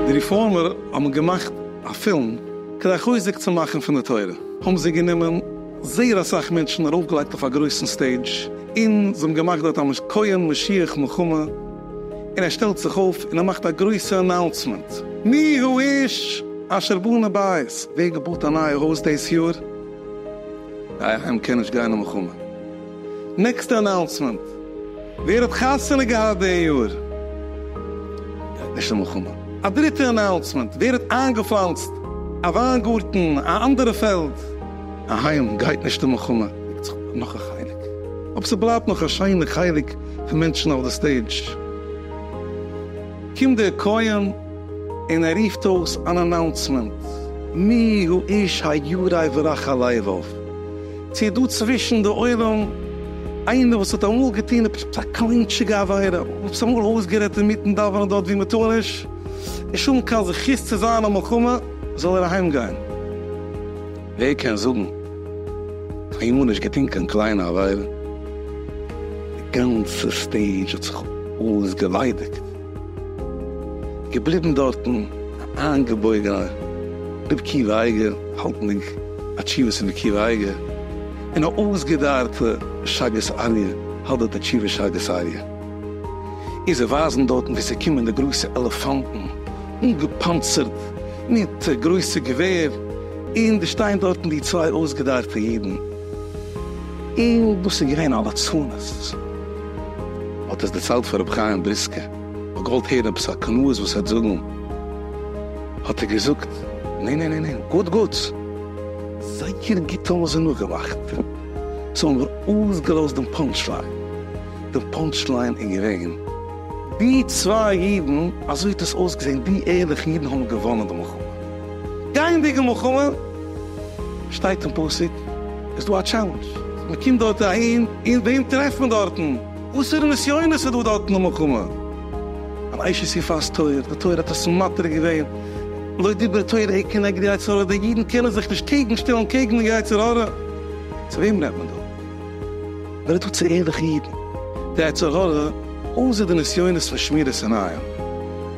די ריפארמער האבן געמאכט א פילם כדי חוזק צו מאכן פון די תורה, האבן זיי גענומען זייער אסאך מענטשן ארויפגעלייגט אויף א גרויסן סטעידזש, און זיי האבן געמאכט דארט א כהן משיח מלחמה, און ער שטעלט זיך אויף און ער מאכט א גרויסע אנאונסמענט, מי האיש אשר בנה בית, ווער האט געבויט א נייע הויז דאס יאר? איי היים קען נישט גיין למלחמה. נעקסטע אנאונסמענט, ווער האט חתונה געהאט די יאר גייט נישט למלחמה. א דריטע אנאונסמענט, ווער האט איינגעפלאנצט א וויינגארטן, א אנדערע פעלד. איי היים גייט נישט למלחמה. דעקט זיך אפ נאך א חלק, אויב ס'בלייבט נאך א שיינע חלק פון מענטשן אויף די סטעידזש קומט דער כהן. און ער רופט אויס אן אנאונסמענט, מי הוא איש ה' יראי ורחל לבב, צו איז דא צווישן די עולם איינער וואס האט אמאל געטון עפעס א קליינטשיגע עבירה, עפעס אמאל אויסגערעדט אינמיטן דאווענען דארט וואו מען טאר נישט, נישט האבן קיין זכות צו זיין אין מלחמה, זאל ער אהיים גיין. ווער קען זאגן, קיינמאל נישט געטון קיין קליינע עבירה, די גאנצע סטעידזש האט זיך אויסגעליידיגט. געבליבן דארטן איינגעבויגן א רב קיווע אייגער האלטנדיג א תשובה צו רב קיווע אייגער און א אויסגעדארטע שאגת אריה האלט די תשובה שאגת אריה איז זיי ווייזן דארטן ווי ס'קומען די גרויסע עלעפאנטן אנגעפאנצערט מיט גרויסע געווער און דאס שטייען דארטן די צוויי אויסגעדארטע אידן. און דאס איז געווען א לצנות. האט עס דערציילט פאר רבי חיים בריסקער, האט געוואלט הערן עפעס א קנאות וואס ער וועט זאגן, האט ער געזאגט, ניין ניין ניין ניין, גוט גוט, זייער גוט האבן זיי נאכגעלאכט, זיי האבן נאר אויסגעלאזט דעם פאנטש ליין, דער פאנטש ליין איז געווען, די צוויי אידן, אזוי האט עס אויסגעזען, די ערליכע אידן האבן געוואנען די מלחמה, גייענדיגע מלחמה, שטייט אין פסוק איז דא א טשעלענדזש, מען קומט דארט אהין און וועם טרעפט מען דארטן? וואסערע נסיונות איז דא דארטן אין מלחמה? אן אשת יפת תואר, די תורה האט עס מתיר געווען, לא דיבר תורה היא כנגד יצר הרע, די אידן קענען זיך נישט קעגן שטעלן קעגן די יצר הרע, צו וועם רעדט מען דא? מען רעדט דא צו ערליכע אידן, די יצר הרע אויסער די נסיונות פון שמירת עיניים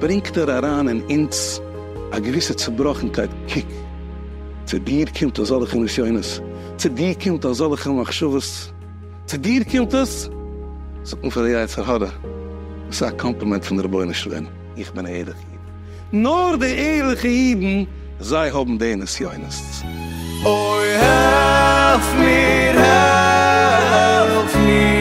ברענגט ער אריין אין אונז א געוויסע צובראכנקייט, קוק. צו דיר קומט אזעלכע נסיונות, צו דיר קומט אזעלכע מחשבות, צו דיר קומט עס, זאגט מען פאר די יצר הרע, עס איז א קאמפלימענט פון די רבונו של עולם, איך בין א ערליכע איד, נאר די ערליכע אידן זיי האבן די נסיונות, אוי העלף מיר העלף מיר.